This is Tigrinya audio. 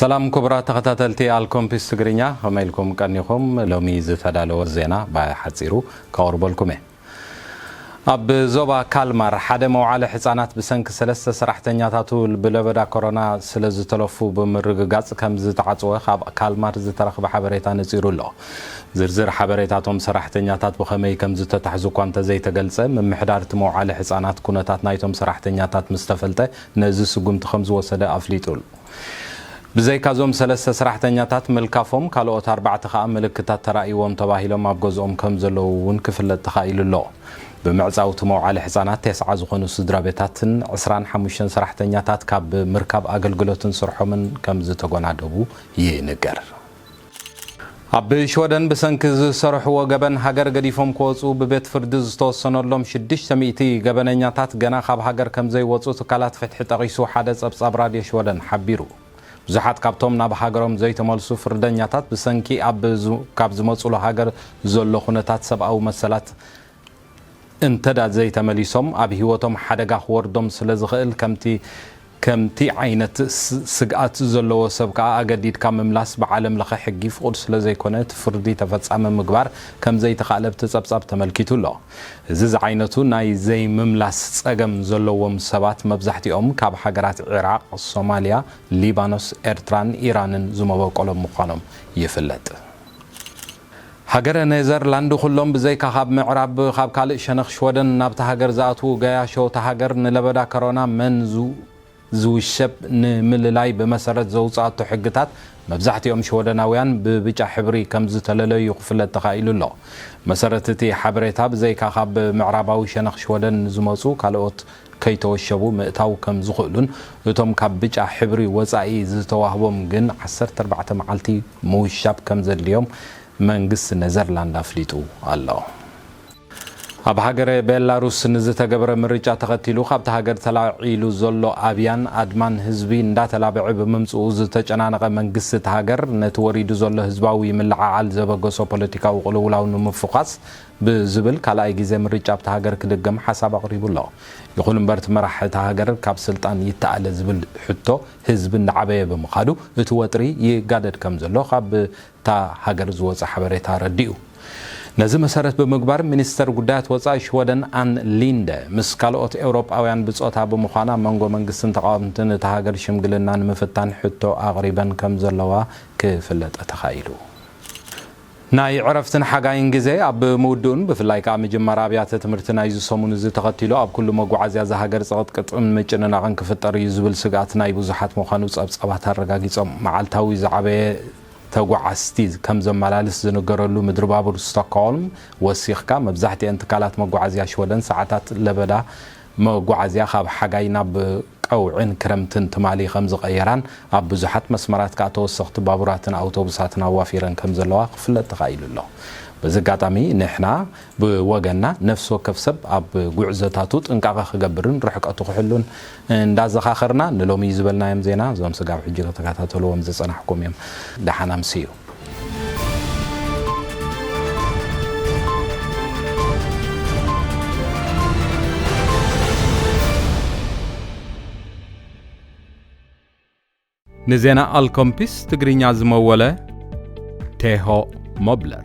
ሰላም ክቡራት ተኸታተልቲ ኣልኮምፒስ ትግርኛ ከመይ ኢልኩም ቀኒኹም? ሎሚ ዝተዳለወ ዜና ብሓጺሩ ከቕርበልኩም እየ። ኣብ ዞባ ካልማር ሓደ መውዓለ ሕጻናት ብሰንኪ ሰለስተ ሰራሕተኛታቱ ብለበዳ ኮሮና ስለዝተለፉ ብምርግጋጽ ከምዝተዓጽወ ካብ ካልማር ዝተረኽበ ሓበሬታ ነጺሩ ኣሎ። ዝርዝር ሓበሬታ እቶም ሰራሕተኛታት ብኸመይ ከምዝተታሕዙ እኳ እንተዘይተገልጸ፣ ምምሕዳር እቲ መውዓለ ሕጻናት ኩነታት ናይቶም ሰራሕተኛታት ምስተፈልጠ ነዚ ስጉምቲ ከምዝወሰደ ኣፍሊጡ ኣሎ። ብዘይካ እዞም ሰለስተ ሰራሕተኛታት ምልካፎም ካልኦት ኣርባዕተ ከኣ ምልክታት ተራእይዎም ተባሂሎም ኣብ ገዝኦም ከምዘለዉ እውን ክፍለጥ ተኻኢሉ ኣሎ። ብምዕጻው እቲ መውዓሊ ሕጻናት ቴስዓ ዝኾኑ ስድራቤታትን ዕስራን ሓሙሽተን ሰራሕተኛታት ካብ ምርካብ ኣገልግሎትን ስርሖምን ከምዝተጎናደቡ ይንገር። ኣብ ሽወደን ብሰንኪ ዝሰርሕዎ ገበን ሃገር ገዲፎም ክወጹ ብቤት ፍርዲ ዝተወሰነሎም ሽዱሽተ ሚእቲ ገበነኛታት ገና ካብ ሃገር ከምዘይወጹ ትካላት ፍትሒ ጠቒሱ ሓደ ጸብጻብ ራድዮ ሽወደን ሓቢሩ። ብዙሓት ካብቶም ናብ ሃገሮም ዘይተመልሱ ፍርደኛታት ብሰንኪ ኣብ ካብ ዝመጹሉ ሃገር ዘሎ ኩነታት ሰብኣዊ መሰላት እንተ ዘይተመሊሶም ኣብ ህይወቶም ሓደጋ ክወርዶም ስለ ዝኽእል ከምቲ ከምቲ ዓይነት ስግኣት ዘለዎ ሰብ ከኣ ኣገዲድካ ምምላስ ብዓለም ለኸ ሕጊ ፍቑድ ስለ ዘይኮነ እቲ ፍርዲ ተፈጻሚ ምግባር ከም ዘይተኻእለ ኣብቲ ጸብጻብ ተመልኪቱ ኣሎ። እዚ ዝዓይነቱ ናይ ዘይምምላስ ጸገም ዘለዎም ሰባት መብዛሕትኦም ካብ ሃገራት ዒራቕ፣ ሶማልያ፣ ሊባኖስ፣ ኤርትራን ኢራንን ዝመበቆሎም ምዃኖም ይፍለጥ። ሃገረ ኔዘርላንድ ኩሎም ብዘይካ ካብ ምዕራብ ካብ ካልእ ሸነኽ ሽወደን ናብታ ሃገር ዝኣትዉ ገያሾ እታ ሃገር ንለበዳ ከሮና መን ዝውሸብ ንምልላይ ብመሰረት ዘውጽኣቶ ሕግታት መብዛሕቲኦም ሽወደናውያን ብብጫ ሕብሪ ከምዝተለለዩ ክፍለጥ ተኻኢሉ ኣሎ። ብመሰረት እቲ ሓበሬታ ብዘይካ ካብ ምዕራባዊ ሸነኽ ሽወደን ንዝመጹ ካልኦት ከይተወሸቡ ምእታው ከም ዝኽእሉን እቶም ካብ ብጫ ሕብሪ ወፃኢ ዝተዋህቦም ግን ዓሰርተ ኣርባዕተ መዓልቲ ምውሻብ ከም ዘድልዮም መንግስቲ ኔዘርላንድ ኣፍሊጡ ኣሎ። ኣብ ሃገረ ቤላሩስ ንዝተገበረ ምርጫ ተኸቲሉ ካብታ ሃገር ተላዒሉ ዘሎ ኣብያን ኣድማን ህዝቢ እንዳተላበዐ ብምምፅኡ ዝተጨናነቐ መንግስቲ እታ ሃገር ነቲ ወሪዱ ዘሎ ህዝባዊ ምልዕዓል ዘበገሶ ፖለቲካዊ ቅልውላው ንምፉዃስ ብዝብል ካልኣይ ግዜ ምርጫ ኣብታ ሃገር ክድገም ሓሳብ ኣቕሪቡ ኣሎ። ይኹን እምበር እቲ መራሒ እታ ሃገር ካብ ስልጣን ይተኣለ ዝብል ሕቶ ህዝቢ እንዳዓበየ ብምኻዱ እቲ ወጥሪ ይጋደድ ከምዘሎ ካብታ ሃገር ዝወጸ ሓበሬታ ኣረዲኡ። ነዚ መሰረት ብምግባር ሚኒስተር ጉዳያት ወጻኢ ሽወደን ኣን ሊንደ ምስ ካልኦት ኤውሮጳውያን ብጾታ ብምዃን ኣብ መንጎ መንግስትን ተቓወምትን እታ ሃገር ሽምግልና ንምፍታን ሕቶ ኣቕሪበን ከምዘለዋ ክፍለጠ ተኻኢሉ። ናይ ዕረፍትን ሓጋይን ግዜ ኣብ ምውድኡን ብፍላይ ከኣ ምጅማር ኣብያተ ትምህርቲ ናይዚ ሰሙን እዚ ተኸቲሉ ኣብ ኩሉ መጓዓዝያ እዛ ሃገር ጽቕጥቅጥን ምጭንናቕን ክፍጠር እዩ ዝብል ስግኣት ናይ ብዙሓት ምዃኑ ጸብጻባት ኣረጋጊጾም። መዓልታዊ ዝዓበየ ተጓዓዝቲ ከም ዘመላልስ ዝንገረሉ ምድሪባቡር ስቶክሆልም ወሲኽካ፣ መብዛሕትኤን ትካላት መጓዓዝያ ሽወደን ሰዓታት ለበዳ መጓዓዝያ ካብ ሓጋይ ናብ ቀውዒን ክረምትን ትማሊ ከምዝቐየራን ኣብ ብዙሓት መስመራት ከኣ ተወሰኽቲ ባቡራትን ኣውቶቡሳትን ኣዋፊረን ከምዘለዋ ክፍለጥ ተኻኢሉ ኣሎ። በዚ ኣጋጣሚ ንሕና ብወገንና ነፍሲ ወከፍ ሰብ ኣብ ጉዕዞታቱ ጥንቃቐ ክገብርን ርሕቀቱ ክሕሉን እንዳዘኻኸርና ንሎሚ ዝበልናዮም ዜና እዞም ስጋብ ሕጂ ተተከታተልዎም ዝጸናሕኩም እዮም። ደሓን ኣምስዩ። ንዜና ኣልኮምፒስ ትግርኛ ዝመወለ ቴሆ ሞብለር።